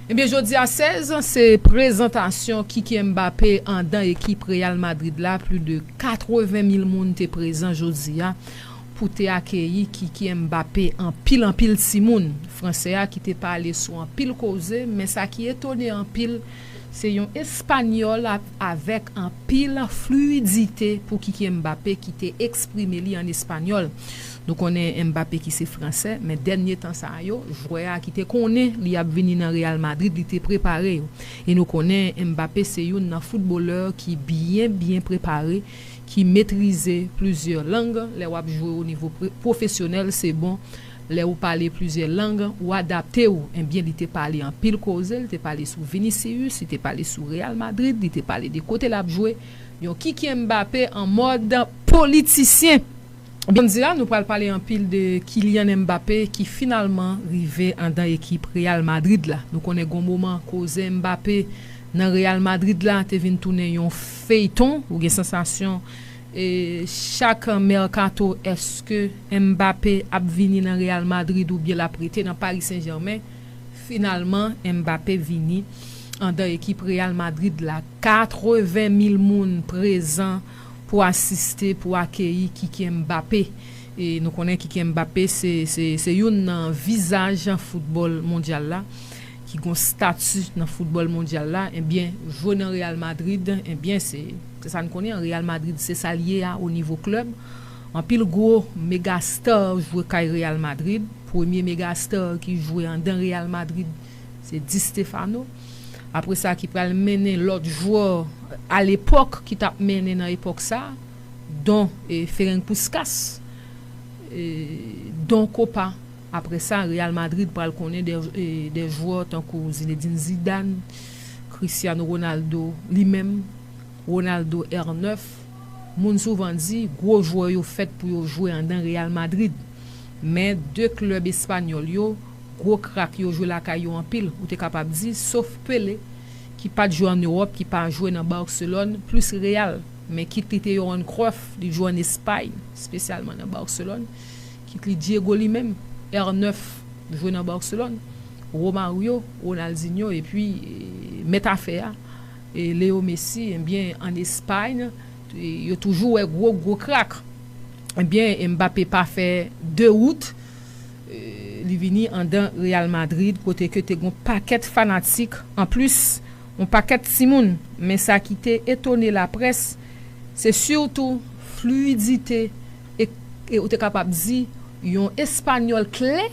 Ebyen jodi a 16 se prezantasyon Kiki Mbappé andan ekip Real Madrid la pli de 80 mil moun te prezan jodi a pou te akeyi Kiki Mbappé anpil anpil timoun fransè a ki te pale sou anpil koze men sa ki etone anpil Se yon Espanyòl avèk anpil fluidite pou Kiki Mbappé ki te eksprime li an espanyòl. Nou konnen Mbappé ki se fransè, men dènye tan sa yo, jwè a ki te konnen li ap vini nan Real Madrid li te prepare yo. E nou konnen Mbappé se youn nan foutbolè ki byen byen prepare, ki metrize plizyè lang, lè wap jwe o nivo pwofesyonèl se bon Lè ou pale plizyè lang, ou adapte ou, enbyen li te pale anpil koze, li te pale sou Vinicius, li te pale sou Real Madrid, li te pale de kote lap jwe, yon Kykyè Mbappé an mòd politisyen! Ebyen m di la nou pral pale anpil de Kylian Mbappé ki finalman rive andan ekip Real Madrid la. Nou konnen gon moman koze Mbappé nan Real Madrid la te vin tounen yon feyton, ou gen sansasyon Chak mercato eske Mbappé ap vini nan Real Madrid oubyen lap rete nan Paris Saint Germain, finalman Mbappé vini andan ekip Real Madrid la 80 mil moun prezan pou asiste pou akeyi Kiki Mbappé e nou konnen Kiki Mbappé se youn nan vizaj foutbòl mondyal la ki gon stati nan foutbòl mondyal la ebyen jwe nan Real Madrid ebyen se Se sa n konnen an Real Madrid se sa l ye a o nivo klèb. Anpil gwo mega star jwe kay Real Madrid. Premye mega star ki jwe andan Real Madrid se Di Stéphano. Apre sa ki pral mennen lòt jwè a lepòk ki t ap mennen nan epòk sa don Ferenc Puskas, don Kopa. Aprè sa, Real Madrid pral konnen dè jwè tankou Zinedine Zidane, Cristiano Ronaldo, li menm, Ronaldo R 9. Moun souvan di, gwo jwè yo fèt pou yo jwe andan Real Madrid. Men, de klèb espanyòl yo, gwo krak yo jwe lakay yo anpil, ou te kapab di, sof Pelé, ki pa t jwe ann Ewòp, ki pa jwe nan Barcelone, plis Real. Men kit li te Johan Cruyff, li jwe ann Espay, spesyalman nan Barcelone. Kit li Diego li menm, R9 jwe nan Barcelone, Romario, Ronaldinho epi mèt afè a Leo Messi ebyen an Espagne yo toujou wè gwo gwo krak ebyen Mbappé pa fè 2 wout li vini andan Real Madrid kote ke te gon pakèt fanatik an plis yon pakèt timoun men sa ki te etone laprès se surtou fluidite E ou te kapab di yon espanyòl klè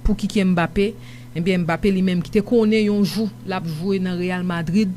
pou ki ki Mbappé, enbyen Mbappé li menm ki te konnen yon jou l ap jwe nan Real Madrid,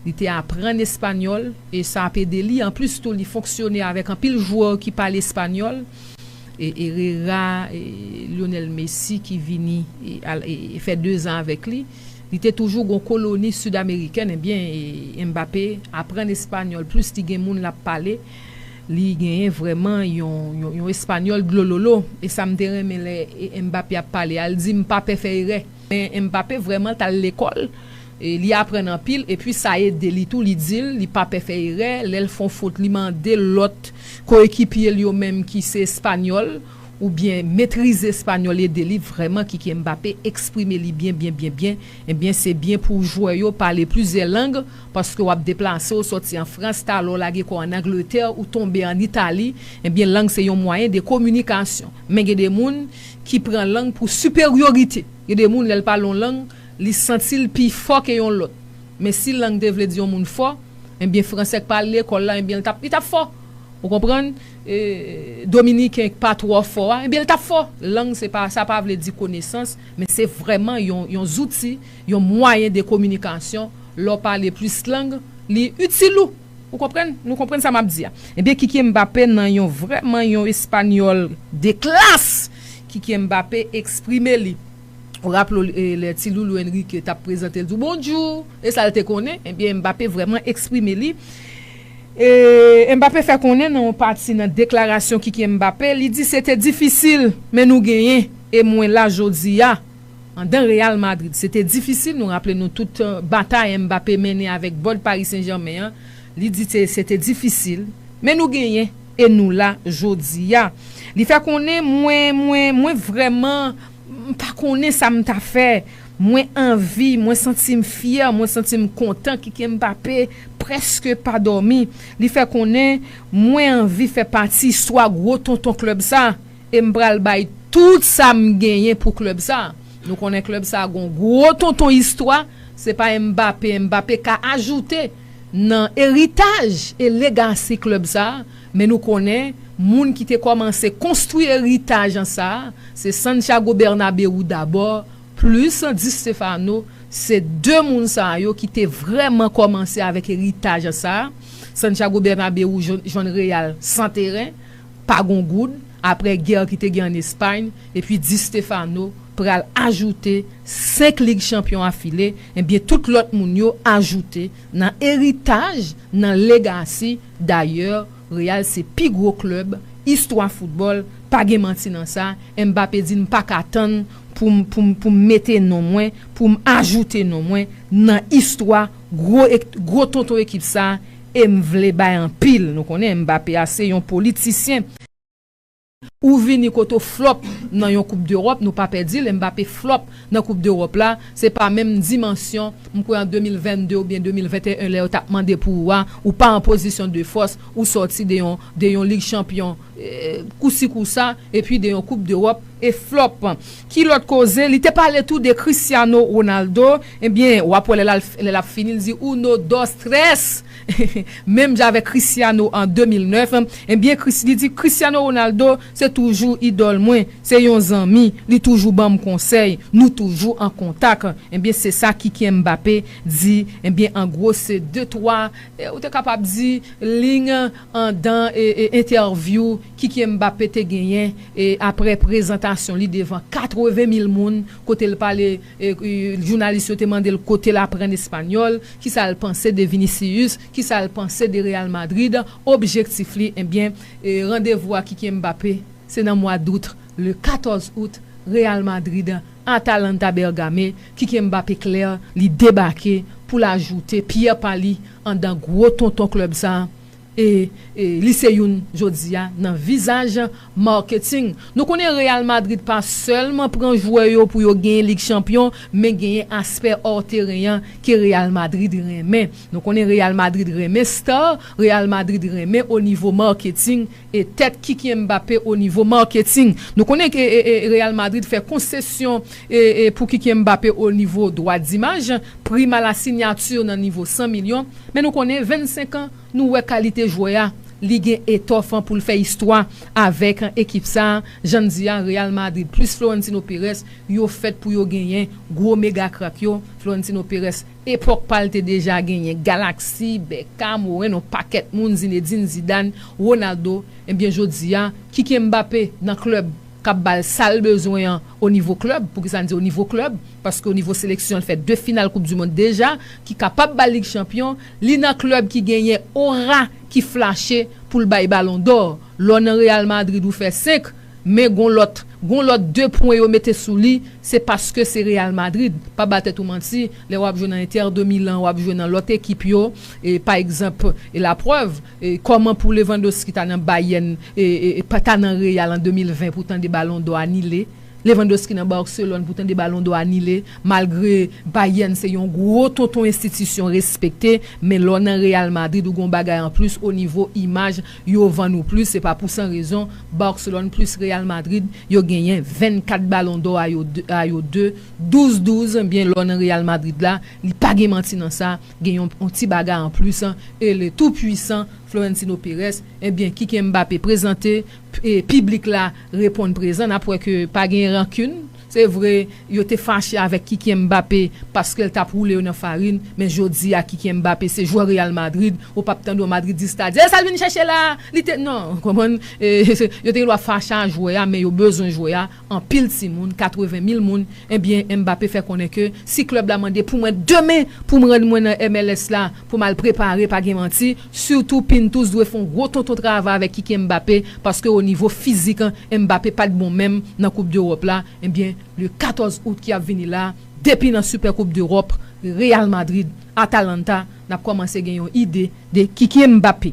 li te aprann espanyòl e sa ap ede li, anplis tou li fonksyone avèk anpil jwè ki pale espanyòl, e Herrera, e Lionel Messi ki vini fè 2 zan avèk li, li te toujou gon koloni sid amerikèn, enbyen Mbappé aprann espanyòl plis li gen moun l ap pale. Li genyen vrèman yon espanyòl dlololo. E sa m te renmen lè Mbappé ap pale a, li di m pa pè fè erè. Men Mbappé vrèman t al lekòl, li aprann anpil epi sa ede li tou, li di l li pa pè fè erè, lè l fon fot li mande lòt koyekipye l yo menm ki se espanyòl oubyen metrize espanyòl ede li vrèman Kyky Mbappé eksprime li byen byen byen byen, ebyen se byen pou jwè yo pale plizyè lang. Paske w ap deplase, w sòti an Frans, talè w lage kò w an Angletè, ou tonbe an Itali, ebyen lang se yon mwayen de kominikasyon. Men gen de moun ki pran lang pou siperyorite. Gen de moun lè l pale yon lang, li santi l pi fò ke yon lòt. Men si lang te vle di yon moun fò, ebyen Fransè k pa al lekòl la, ebyen l t ap, li t ap fò. Ou konprann? Dominiken k pa twò fò a, ebyen l t ap fò. Lang se pa, sa pa vle di konesans, men se vrèman yon, yon zouti. Yon mwayen de kominikasyon, lè w pale plis lang, li itil ou. Ou konprann? Nou konprann sa m ap di a? Ebyen Kykie Mbappé nan yon vrèman yon espanyòl de klas! Kykie Mbappé eksprime li. Ou raple w lè ti loulou Enrique t ap prezante l di w Bonjou! E sa l te konnen? Ebyen Mbappé vrèman eksprime li. E Mbappé fè konnen nan yon pati nan deklarasyon Kykie Mbappé, li di se te difisil men nou genyen e mwen la jodi a. Andan Real Madrid, se te difisil, nou raple nou tout batay Mbappé mennen avèk bòd Paris Saint-Germain an, li di te se te difisil, men nou genyen e nou la jodi a. Li fè konnen mwen mwen mwen vrèman m pa konnen sa m ta fè, mwen anvi, mwen santi m fyè, mwen santi m kontan Kike Mbappé prèske pa dòmi, li fè konnen mwen anvi fè pati istwa gwo tonton klèb sa. E m pral bay tout sa m genyen pou klèb sa. Nou konnen klèb sa gon gwo tonton istwa, se pa Mbappé, Mbappé ka ajoute nan eritaj e legasi klèb sa, men nou konnen moun ki te kòmanse konstwi eritaj an sa, se Santiago Bernabéu dabò plis Di Stéfano, se 2 moun sa yo ki te vrèman kòmanse avèk eritaj sa, Santiago Bernabéu jwenn Real san teren. pa gon goud aprè gè ki te gen an Espayn epi Di Stéphano pral ajoute 5 lig chanpyon afile ebyen tout lòt moun yo ajoute nan eritaj nan legasi dayè Real se pi gwo klèb istwa foutbòl pa gen manti nan sa Mbappé di m paka tann poum poum poum mete non mwen poum ajoute non mwen nan istwa gwo gwo tonton ekip sa E m vle bay anpil. Nou konnen Mbappé a se yon politisyen. Ou vini kote w flop nan yon koup dEròp, nou pa pè di l, Mbappé flop nan koup dEròp la, se pa menm dimansyon, m kwè an 2022 oubyen 2021 lè yo t ap mande pou ou a, ou pa an pozisyon de fòs, ou sòti de yon, de yon lig chanpyon. kousi kousa epi de yon koup dewòp e flòp ki lòt koze li te pale tou de Cristiano Ronaldo ebyen wap wè lè lap fini li di uno dos tres menm jan avèk Cristiano an 2009 ebyen li di Cristiano Ronaldo se toujou idòl mwen se yon zanmi li toujou banm konsèy nou toujou an kontak ebyen se sa Kyky Mbappé di ebyen an gwo se de twa ou te kapab di lign Andan entèvyou Kyky Mbappé te genyen aprè prezantasyon li devan 80 mil moun kote l pale jounalis yo te mande l kote l aprann espanyòl, kisa l panse de Vinicius, kisa l panse de Real Madrid, objektif li ebyen randevou a Kyky Mbappé se nan mwa dout le 14 out Real Madrid. Atalanta Bergame kike Mbappé klè li debake pou l ajoute pyè pa li andan gwo tonton klèb sa e li se youn jodi a nan vizaj marketing. Nou konnen Real Madrid pa sèlman pran jwè yo pou yo genyen Lig Chanpyon men genyen aspè hors teren an ke Real Madrid renmen. Nou konnen Real Madrid renmen star, Real Madrid renmen o nivo marketing. E tèt Kiki Mbappé o nivo marketing. Nou konnen ke Real Madrid fè konsesyon pou Kiki Mbappé o nivo dwa dimaj, prime à la signature nan nivo 100 milyon. Men nou konnen 25 an, nou wè kalite jwè a, li gen etòf pou l fè istwa avèk ekip sa. Jan n di a, Real Madrid plis Florentino Perez, yo fèt pou yo genyen gwo mega krak yo. Florentino Perez. Epòk pa l te deja genyen Galaksi, Bèkam, Woren, yon pakèt moun, Zinedin, Zidan, Wonaldo, ebyen jodi a ki gen Mbape nan klèb k ap ba l sa l bezwen an o nivo klèb, poukisa n di o nivo klèb, paske o nivo seleksyon l fè 2 final koup di mond deja, ki kapab ba l lig chanpyon, li nan klèb ki genyen ora ki flache pou l bay balon dò, lè w nan Real Madrid ou fè 5, Men gon lòt, gon lòt 2 pwen yo mete sou li, se paske se Real Madrid. Pa ba tèt ou manti, lè wap jwe nan Inter de Milan, wap jwe nan lòt ekip yo, pa egzanp, la prèv, kòman pou Lewandowski ta nan Bayern, pa ta nan Real an 2020 pou tande balon dò anile, Lewandowski nan Barcelone pou tande balon dò anile, malgre Bayern se yon gwo tonton enstitisyon respekte, men lè w nan Real Madrid ou gon bagay anplis o nivo imaj, Yo vann ou plis se pa pou san rezon, Barcelone plis Real Madrid yo genyen 24 balon dò a yo 2 a yo 2, 12 12 byen lè w nan Real Madrid la li pa gen manti nan sa gen yon yon ti bagay an plis e le tout puissant Florentino Perez ebyen kike Mbappé prezante p piblik la reponn prezan nap wè ke pa gen rancune. Se vre, yo te fache avèk Kykyè Mbappé paske l t ap woule yo nan farin, men jodi a Kykyè Mbappé se jwè Real Madrid, ou pap tande yon Madridis ta di, e sa l vin chèche la a? Li te non, ou konprann? E yo te gen dwa fache a jwè a, men yo bezwen jwè a, anpil timoun, 80 mil moun, ebyen Mbappé fè konnen ke si klèb la mande pou mwen demen pou m rann mwen nan MLS la pou m al prepare pa gen manti, Surtout Pintus dwe fon gwo tonton travay avèk Kiki Mbappé paske o nivo fizik Mbappé pat bon menm nan koup dEròp la ebyen le 14 Out ki ap vini la depi nan Super koup dEròp Real Madrid Atalanta nap kòmanse gen yon ide de Kiki Mbappé.